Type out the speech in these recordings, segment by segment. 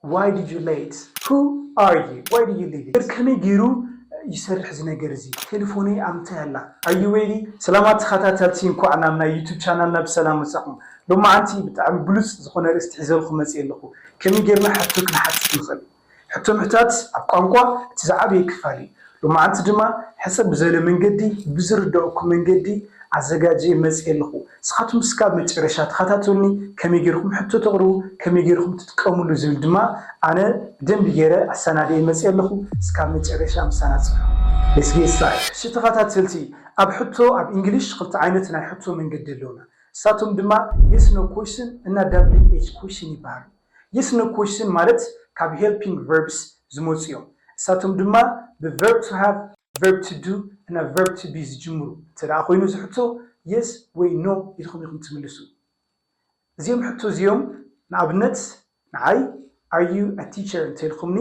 ዋይ ዲድ ዩ ሌት ሁ ኣር ዩ ዋይ ዲድ ዩ ሊቭ ኢት ከመይ ገይሩ ይሰርሕ እዚ ነገር እዚ ቴልፎነይ ኣብ ምንታይ ኣላ ኣር ዩ ሬዲ። ሰላማት ተኻታተልቲ እንኳዕ ናብ ናይ ዩቱብ ቻናልና ብሰላም መጻኹም ሎማዓንቲ ብጣዕሚ ብሉጽ ዝኾነ ኣርእስቲ ሒዘልኹም መጺኤ ኣለኹ ከመይ ጌርና ሕቶ ክንሓትት ንኽእል ሕቶ ምሕታት ኣብ ቋንቋ እቲ ዝዓበየ ክፋል እዩ ሎማዕንቲ ድማ ሕጽር ብዘለ መንገዲ ብዝርደኣኩም መንገዲ ኣዘጋጅየ መጽየ ኣለኹ እስኻትኩም እስካብ መጨረሻ ተኻታተሉኒ ከመይ ጌርኩም ሕቶ ተቕርቡ ከመይ ጌርኩም ትጥቀምሉ ዝብል ድማ ኣነ ብደንቢ ጌረ ኣሳናድየ መጽየ ኣለኹ እስካብ መጨረሻ ምሳና ጽንሑ Let's get started። እሺ ተኻታተልቲ ኣብ ሕቶ ኣብ ኢንግሊሽ ክልተ ዓይነት ናይ ሕቶ መንገዲ ኣለውና እሳቶም ድማ Yes No Question እና WH Question ይባሃሉ። ይስነ ኩሽን ማለት ካብ ሄልፒንግ ቨርብስ ዝመጹ እዮም። እሳቶም ድማ ብ ቨርብ ቱ ሃቭ፣ ቨርብ ቱ ዱ እና ቨርብ ቱ ቢ ዝጅምሩ እንተደኣ ኮይኑ እዚ ሕቶ የስ ወይ ኖ ኢልኩም ኢኹም ትምልሱ። እዚኦም ሕቶ እዚኦም ንኣብነት ንዓይ ኣር ዩ ኣ ቲቸር እንተኢልኩምኒ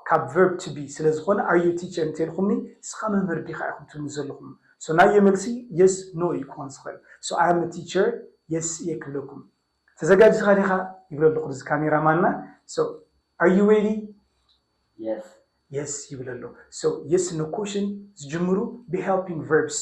ካብ ቨርብ ቱ ቢ ስለ ዝኾነ ኣር ዩ ኣ ቲቸር እንተኢልኩምኒ ንስኻ መምህር ዲኻ ኢኹም ትብሉኒ ዘለኹም ሶ ናየይ መልሲ የስ ኖ እዩ ክኾን ዝኽእል ሶ ኣይ ኣም ኣ ቲቸር የስ እየ ክብለኩም ተዘጋጂካ ዲካ ይብሎ ኣለኩ ነዚ ካሜራ ማንና so are you ready yes yes ይብል ኣሎ so yes no question ዝጅምሩ ብ helping verbs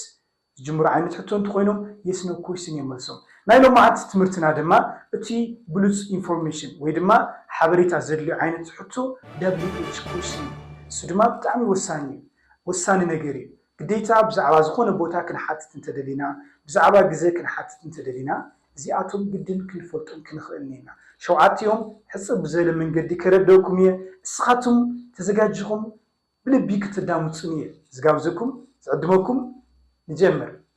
ዝጅምሩ ዓይነት ሕቶ እንተኮይኖም yes no question እዮም መልሶም ናይ ሎማዓንቲ ትምህርትና ድማ እቲ ብሉጽ ኢንፎርሜሽን ወይ ድማ ሓበሬታ ዘድልዮ ዓይነት ሕቶ wh question እሱ ድማ ብጣዕሚ ወሳኒ እዩ ወሳኒ ነገር እዩ ግዴታ ብዛዕባ ዝኾነ ቦታ ክንሓትት እንተደሊና፣ ብዛዕባ ግዘ ክንሓትት እንተደሊና እዚኣቶም ግድን ክንፈልጦም ክንኽእልን እይና። ሸውዓቲኦም ሕጽር ብዝበለ መንገዲ ከረደእኩም እየ፣ እስኻትም ተዘጋጂኹም ብልቢ ክትዳምጹኒ እየ ዝጋብዘኩም፣ ዝዕድመኩም። ንጀምር።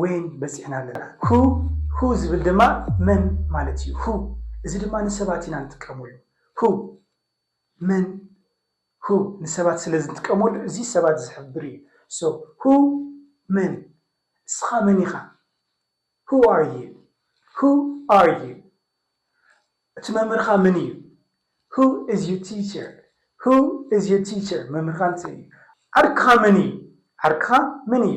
ወይን በጺሕና ኣለና። Who፣ Who ዝብል ድማ መን ማለት እዩ። Who፣ እዚ ድማ ንሰባት ኢና ንጥቀመሉ። Who፣ መን Who፣ ንሰባት ስለ ዝንጥቀመሉ እዚ ሰባት ዝሕብር እዩ። So Who፣ መን እስኻ መን ኢኻ? Who are you? Who are you? እቲ መምህርኻ መን እዩ? Who is your teacher? Who is your teacher? መምህርካ እንታይ እዩ? ዓርክኻ መን እዩ? ዓርክኻ መን እዩ?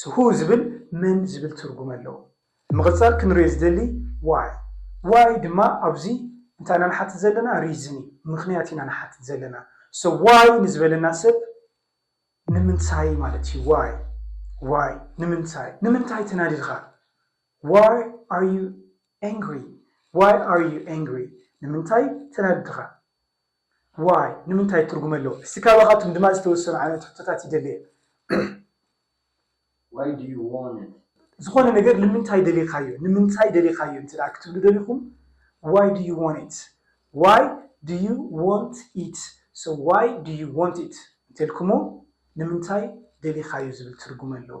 ስሁ ዝብል መን ዝብል ትርጉም ኣለዎ። ብምቕጻል ክንሪኦ ዝደሊ ዋይ ዋይ ድማ ኣብዚ እንታይ ኢና ንሓትት ዘለና ሪዝን እዩ ምኽንያት ኢና ንሓትት ዘለና so ዋይ ንዝበለና ሰብ ንምንታይ ማለት እዩ ዋይ ዋይ ንምንታይ ንምንታይ ተናዲድኻ ዋይ ኣር ዩ ኣንግሪ ዋይ ኣር ዩ ኣንግሪ ንምንታይ ተናዲድኻ ዋይ ንምንታይ ትርጉም ኣለዎ እስቲ ካባካቱም ድማ ዝተወሰኑ ዓይነት ሕቶታት ይደሊ እየ ዋይ ዱ ዩ ዋንት ዝኮነ ነገር ልምንታይ ደሊካዮ ንምንታይ ደሊካዮ እንተ ክትብሉ ደሊኩም ዋይ ዱ ዩ ዋንት ዋይ ዱ ዩ ዋንት ኢት ሶ ዋይ ዱ ዩ ዋንት ኢት እንተልኩሞ ንምንታይ ደሊካዮ ዝብል ትርጉም ኣለዎ።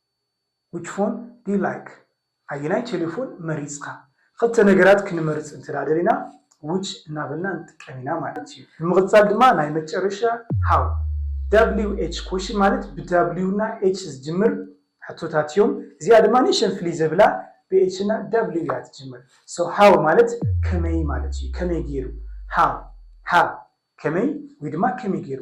ዊች ፎን ዱ ዩ ላይክ ኣየናይ ቴሌፎን መሪፅካ? ኽልተ ነገራት ክንመርፅ እንተድኣ ደሊና ዊች እናበልና ንጥቀም ኢና ማለት ዩ። ብምቕፃል ድማ ናይ መጨረሻ ሃው፣ WH፣ ኮሽን ማለት ብ W እና H ዝጅምር ሕቶታት ዮም። እዚኣ ድማ ንእሸተን ፍልይ ዘብላ ብ H እና W እያ ትጅምር። So ሃው ማለት ከመይ ማለት ዩ። ከመይ ገይሩ? ሃው፣ ሃው፣ ከመይ ወይ ድማ ከመይ ገይሩ?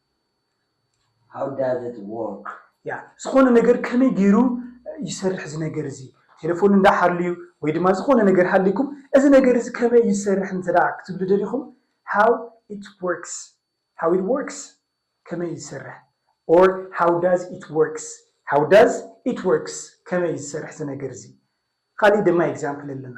How does it work? ያ ዝኾነ ነገር ከመይ ገይሩ ይሰርሕ እዚ ነገር እዚ ቴሌፎን እንዳሓልዩ ወይ ድማ ዝኾነ ነገር ሃሊኩም እዚ ነገር እዚ ከመይ እዩ ዝሰርሕ እንተ ደኣ ክትብሉ ደሊኹም how it works how it works ከመይ እዩ ዝሰርሕ or how does it works how does it works ከመይ እዩ ዝሰርሕ እዚ ነገር እዚ ካሊእ ድማ ኤግዛምፕል ኣለና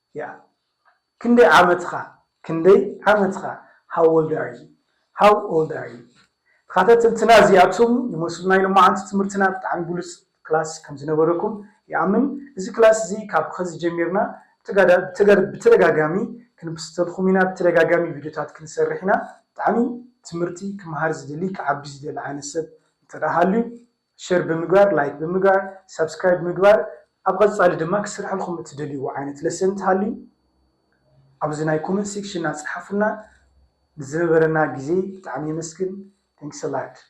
ያእ ክንደይ ዓመትኻ ክንደይ ዓመትኻ how old are you how old are you ተኻታተልትና እዚኣቶም ይመስሉ ናይ ሎማዓንቲ ትምህርትና ብጣዕሚ ብሉጽ ክላስ ከም ዝነበረኩም ይኣምን እዚ ክላስ እዚ ካብ ኸዚ ጀሚርና ብተደጋጋሚ ክንፕስተልኹም ኢና ብተደጋጋሚ ቪድዮታት ክንሰርሕ ኢና ብጣዕሚ ትምህርቲ ክምሃር ዝደሊ ክዓቢ ዝደሊ ዓይነት ሰብ እንተ ሃልዩ ሸር ብምግባር ላይክ ብምግባር ሳብስክራይብ ብምግባር ኣብ ቐፃሊ ድማ ክስርሐልኹም እትደልይዎ ዓይነት ለሰን እንተሃልዩ ኣብዚ ናይ ኮመንት ሴክሽና ፀሓፉልና ንዝነበረና ግዜ ብጣዕሚ የመስግን Thanks a lot።